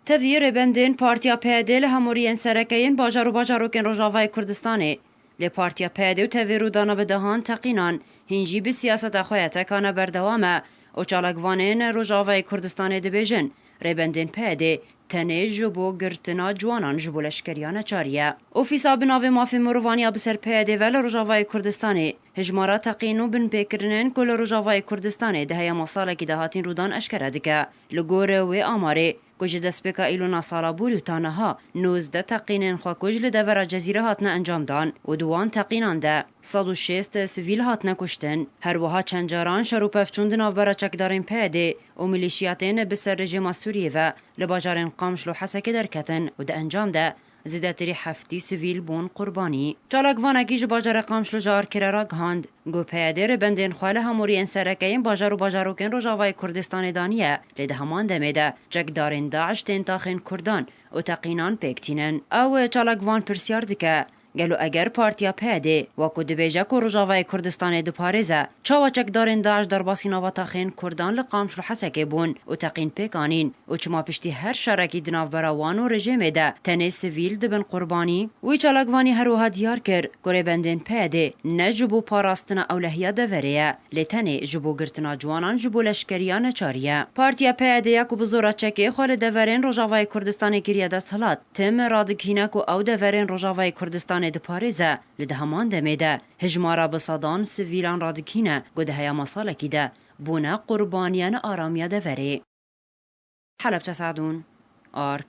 Tevî rêbendên Partiya PYD li hemû riyên sereke yên bajar û bajarokên Rojavayê Kurdistanê. Lê Partiya PYD û tevî rûdana bi dehan teqînan hîn jî bi siyaseta xwe ya tekane berdewam e û çalakvanên Rojavayê Kurdistanê dibêjin, Rêbendên PYDê tenê ji bo girtina ciwanan ji bo leşkeriya neçarî ye. Ofîsa bi navê Mafên Mirovan ya bi ser PYDê ve li Rojavayê Kurdistanê, Hejmara teqîn û binpêkirinên ku li Rojavayê Kurdistanê di heyama salekî de hatin rûdan eşkere dike. Li gor wê amarê, ku ji destpêka Îlûna sala bûrî û ta niha, nozdeh teqînên xwekûj li devera Cezîre hatine encamdan û di wan teqînan de sed û şêst sivîl hatine kuştin. Her wiha çend caran şer û pevçûn di navbera çekdarên PYDê û milîşiyatên bi ser rejîma Sûriyê ve li bajarên Qamşl û Hesekê derketin û di encam de Zêdetirî heftî sivîl bûn qurbanî. Çalakvanekî ji bajarê Qamişlo ji Arkirê re gihand ku PYD rêbendên xwe li hemûriyên sereke yên bajar û bajarokên Rojavayê Kurdistanê daniye lê di heman demê de çekdarên DAIŞ tên taxên Kurdan û teqînan pêk tînin. Ew, çalakvan pirsyar dike, Gelo eger partiya PYD wek ku dibêje ku Rojavayê Kurdistanê diparêze Çawa çekdarên DAIŞ derbasî nava taxên Kurdan li Qamşlo Hesekê bûn û teqîn pêk anîn û çima piştî her şerekî di navbera wan û rejêmê de tenê sivîl dibin qurbanî? Wî çalakvanî her wiha diyar kir ku rêbendên PYD ne ji bo parastina ewlehiya deverê ye, lê tenê ji bo girtina ciwanan ji bo leşkeriya neçarî ye. Partiya PYD ya ku bi zora çekê xwe li deverên Rojavayê Kurdistanê kiriye desthilat, tim radighîne ku ew deverên Rojavayê Kurdistanê diparêze. Li di heman demê de hijmara bi sedan sivîlan radikîne ku di heyama salekî de bûne qurbaniya ne aramiya deverê. Helebce Seedûn, arg.